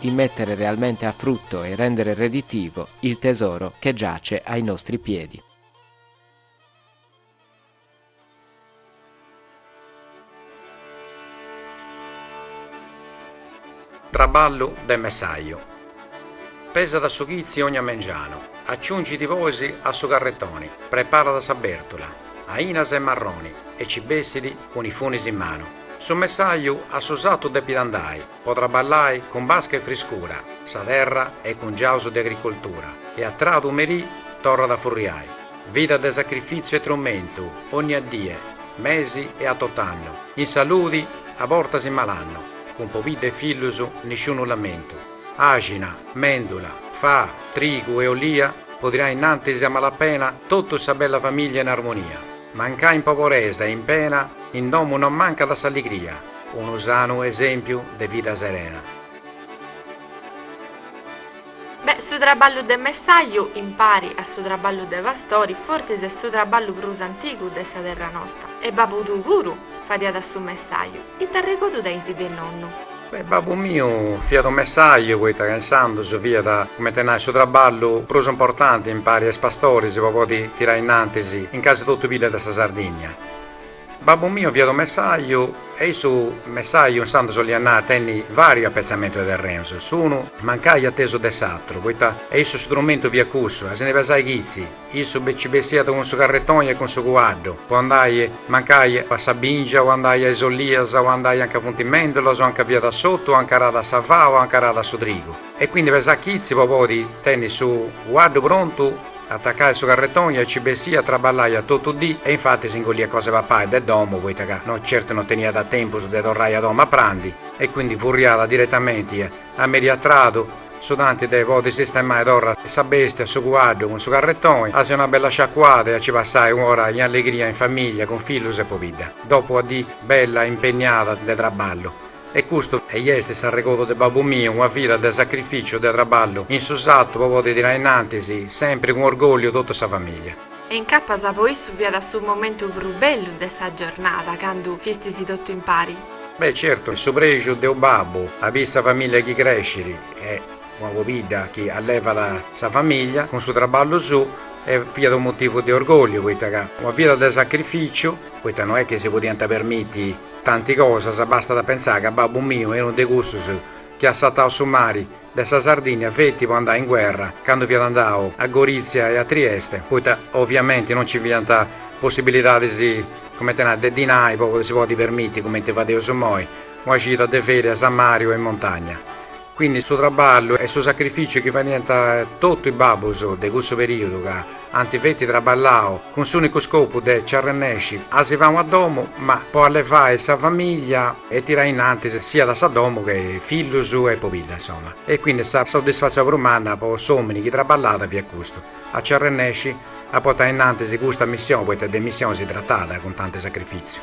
di mettere realmente a frutto e rendere redditivo il tesoro che giace ai nostri piedi. Traballu de messaju. Pesat su chitzi ogna mengianu, acciungit bois a su carretoni, preparat a sa bèrtula, ainas e marroni e ci bessit cun is funis in manu. Su messaju a su satu depit andai. Po traballai cun basca e friscura sa terra cun is giuus de agricoltura e a tradu merì torrat a furriai. Vida de sacrifìtziu e trumentu onnia dì, mesi e a tot'annu, in saludi a bortas in malannu, cun pobidda e fillus nisciunu lamentu. Àxina, mèndula, fa, trigu e olia po tirai innantis a malapena totu sa bella famìllia in armonia. Mancai in poboresa e in pena, in domu non mancat s'alligria, unu sanu esèmpiu de vida serena. Beh, su traballu de messaju, impari a su traballu de pastori, fortzis est su traballu prus antigu de sa terra nosta. E babbu tuu puru fadiat su messaju, it'arregodu tenis de nonnu? Babbu miu fiat unu messàju poita ca insandos fiat, comente a nai, su traballu prus importanti impari a is pastoris po podi tirai innantis in casi totu is biddas de sa Sardigna. Babbu miu fiat unu messàju e essi su messàju insandos oliat nai tenni vàrius appetzamentus de terrenus, unu mancai a tesu de s'atru, poita e issu su trumentu fiat cussu, a si ndi pesai chitzi. Issu beh ci bessiat cun su carretoni e cun su cuaddu, po andai, mancai, a sa bìngia, o andai a is ollias, o andai anca funt is mèndulas, o anca fiat s'ortu, o anca aràt sa faa, o anca aràt su trigu. E quindi pesat chizi po podi tenni su cuaddu prontu, atacai su carretoni e ci bessiat, traballaiat totu dì e infati s'ingolliat cosa de papai de domu, poita ca no certu no teniat tempus de torrai a domu a prandi, e quindi furriàt diretamenti a merì a tradu, Su tanti de podi sistemai torra sa bestia su cuaddu cun su carretoni, a si donai una bella sciacuada e a ci passai u'ora in allegria in famiglia cun fillus e pobidda, dopu ua dì bella impegnada de traballu. E custu est s'arregodu de babbu miu, una vida de sacrificiu, de traballu in su sartu po podi tirai innantis sempri cun orgolliu totu sa famiglia. E incapas po issu fiat su momentu prus bellu de sa giornada, candu fistis totu impari. Beh, certu, est su prexu de unu babbu, a biri sa famìllia chi crèscit e una pobidda chi allevat sa famìllia cun su traballu suu e fiat unu motivu de orgòlliu poita ca una vida de sacrificiu, poita no est chi si podiant permiti tanti cosas, bastat a pentzai ca babbu miu est unu de cussus chi at sartau su mari de sa Sardìnnia feti po andai in guerra candu fiat andau a Gorìtzia e a Trieste, poita oviamenti non nci fiant possibilidadis, comente nai, de dinai po si podi permiti, cumenti fadeus immoi, una cida de ferias a mari o in montagna. Quindi su traballu e su sacrificiu chi fadiant totu is babbus de cussu perìodu ca, Ant feti traballau cun s'unicu scopu de nci arrennesci a si fai una domu, ma po allevai sa famiglia e tirai innantis siat sa domu che fillus e pobidda insoma. E quindi sa soddisfatzioni prus manna po s'omini chi traballat fiat custu, a nci arrennesci a portai innantis custa missioni, poita de missioni si tratat cun tanti sacrifitziu.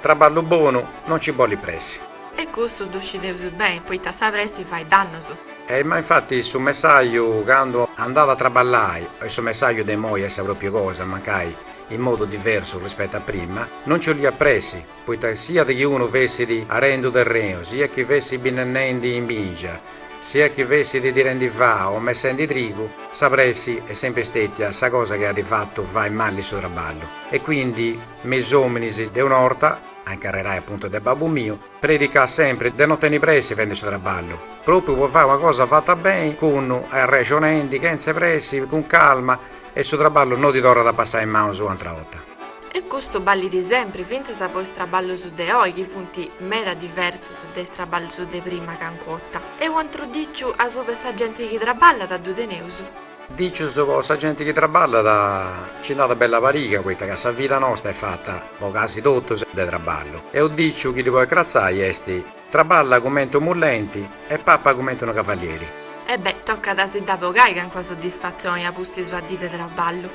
Traballu bonu non ci bolit pressi. E custu ddu scideus beni, poita sa pressi fait dannus. E ma infati su messaju candu andada a traballai, e su messaju de imoi est sa propriu cosa, mancai in modu diversu rispettu a prima, non ci 'oliat pressi, poita siat chi unu fessit arendi unu terrenu, siat chi fessit binnennendi in bingia, siat chi fessit tirendi fà o messendi trigu, sa pressi est sempri stetia sa cosa chi at fatu fai mali su traballu. E quindi. Me is ominis de un'orta, a incarrerai appuntu de babbu miu, predicat sempri de no tenni pressi fendi su trabballu, propriu po fai una cosa fatta beni, cun arrexonendi, chentze pressi, cun calma, e su trabballu no ti torrat a passai in manus u'antra 'orta. E custu ballit sempri fintzas po is traballus de oi chi funt meda diversus de is traballus de prima cancun'orta. E u'antru diciu asuba 'e sa genti chi trabballat ddu teneus. Dicius po sa genti chi traballat, ci nd'at bella pariga poita ca sa vida nosta est fata, po casi totus, de traballu. E unu diciu chi ddi podit cratzai est, Traballa cumenti unu mullenti e papa cumenti unu cavalieri. E beh, tocat a si dda bogai calincuna soddisfatzioni a pustis una dì de traballu.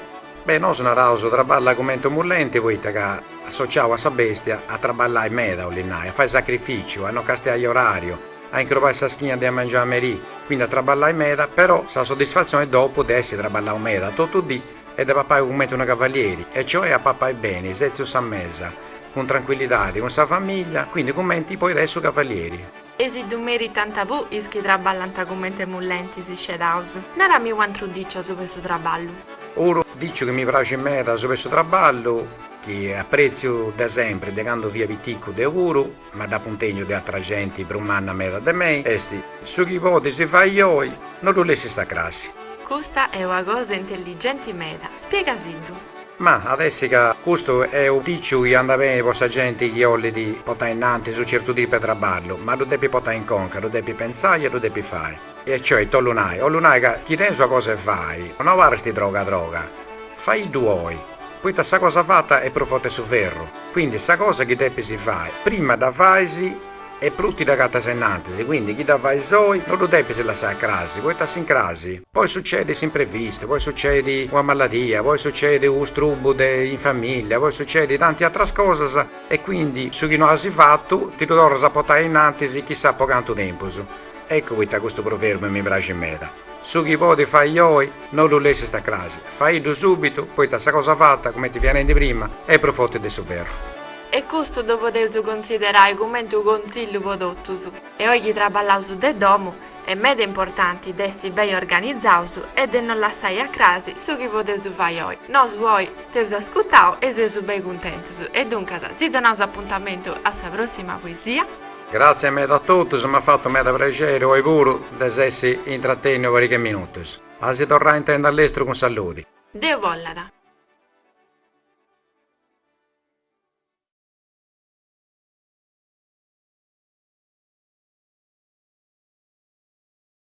Beh, nosu naraus, Traballa cumenti unu mullenti poita ca, associau a sa bestia, a traballai meda, 'olit nai, a fai sacrificiu, a no castiai orariu, a incrubai sa schina de a mangianu a merì, quindi a traballai meda, però sa soddisfatzioni dopu de essi traballau meda totu dì est de papai cumenti unu cavalieri, e cioè a papai beni, setziu sa mesa, cun tranquillidadi, cun sa famiglia, quindi cumenti podit essi su cavalieri. E si ddu meritant puru is chi traballant cumenti mullentis scedaus. Narami u'antru diciu asuba 'e su traballu. Unu diciu chi mi praxit meda asuba 'e su traballu, chi apretziu de sempri, de candu fia piticu deu puru, ma dd'apu intènniu de atra genti prus manna meda de mei, est, su chi podis fai oi, no ddu lessist a crassi. Custa est una cosa intelligenti meda, spiegasiddu. Ma, at essi ca, custu est unu diciu chi andat beni po sa genti chi 'ollit potai innantis unu certu tipu 'e traballu, ma ddu depit potai in conca, ddu depit pentzai e ddu depit fai. E cioè, ita 'ollu nai? 'ollu nai ca chi tenes una cosa 'e fai, no abarrist droga droga, faiddu oi, poita sa cosa fata est prus forti 'e su ferru, quindi sa cosa chi depis fai, prima dda fais e prus ti dd'agatas innantis, quindi chi dda fais oi no ddu depis lassai a crasi, poita a s'incrasi poi sucedit s'imprevistu, poi sucedit una maladia, poi sucedit u' strubu de in familia, poi sucedit tanti atras cosas e quindi su chi no as fatu ti ddu torras a portai innantis chissà po cantu tempus. Eccu poita custu proverbiu mi praxit meda, Su chi podis fai oi, no ddu lessis a crasi, faiddu subitu, poita sa cosa fata, cumenti fia nendi prima, est prus forti de su ferru. E custu ddu podeus considerai cumenti unu contzillu po totus. E oi chi traballaus de domu, est meda importanti de essi beni organizaus e de no lassai a crasi su chi podeus fai oi. Nosu oi t'eus ascutau e seus beni cuntentus e duncas si donaus apuntamentu a sa prossima poesia. Gratzias meda a totus, m'at fatu meda prexeri oi puru de s'essi intratenniu pariga minutus. A si torrai intendi a lestru cun saludi. Deu bollat.